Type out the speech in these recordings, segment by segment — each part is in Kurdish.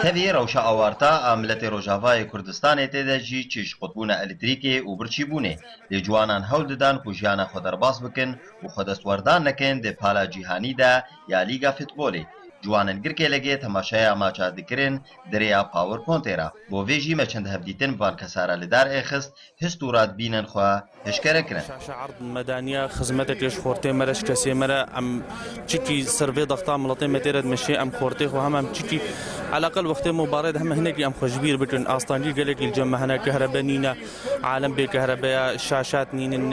Tevî rewşa awarta a miletê Rojavayê Kurdistanê tê de jî çi ji qutbûna elektrîkê û birçîbûnê lê ciwanan hewl didan ku jiyana xwe derbas bikin û xwe destwerdar nekin di pala cîhanî de ya lîga fitbolê ciwanin girkê legê temaşeya maça dikirin di rêya power pontê re bo vê jî me çend hevdîtin bi van kesa re li dar ê xist hist û radbînên xwe hişkere kirin. Şaşe Erd, Medaniya xizmetekê ji xortê me re, ji kesê me re em çikî ser vê daxta miletê me tê re dimeşê, em xortê xwe heme em çikî eleqel wextê me û barê de heme hinekî em xwe ji bîr bikin. Astancî gelekî li cem me hene, kehrebe nîne, alem bê kehrebe ye, şaşat nînin,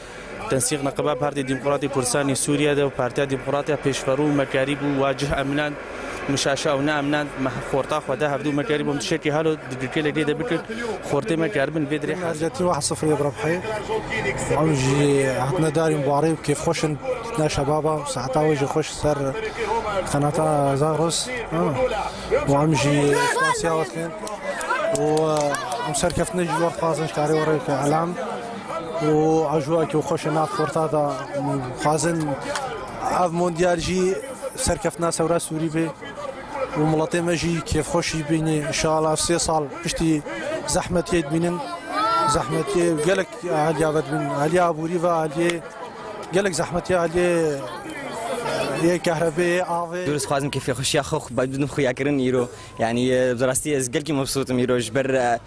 Tensîq neqeba Partî Demokratî Kurdistanê Sûrîye de û Partîya Demokrat ya Pêşverû û Mekerî bû wa cih emnand mişaşa û neemnand meh xorta xwe de hevdû Mekerî bûm tişekî halo digikêlê gê de bikir xortê me keribin vê dirê hal Hercetî wah sifrê bi rebhê ew jî hatine darîn barê û kêfxweş in ne şebaba û saeta wê jî xweş ser qenata Zagros wan jî spasîya we dikin û em serkeftine jî wexxwazin ji karê we re bike elam. û ajowa ku xweş e nav forta de dixwazin ev mondyal jî serkeftina sewra Sûrî be û miletê me jî kêfxweşî bîne inşallah ev sê sal piştî zehmetiyê dibînin zehmetiyê gelek alîya ve dibîn alîya aborî ve alîyê gelek zehmetiyê alîyê yê kehrebê yê avê. Dûr dixwazim kêfxweşiya xwe xwe bidim xuyakirin îro yanî bi rastî ez gelkî mebsût im îro ji ber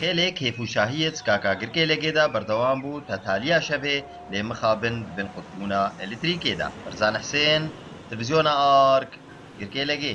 Xêlê kêfûşahî yê Zikaka Girkêlekê de berdewam bû ta taliya şevê lê mixabin di bin qutbûna eletrîkê de. Berzan Hisên, Televîzyona Ark, Girkêlekê.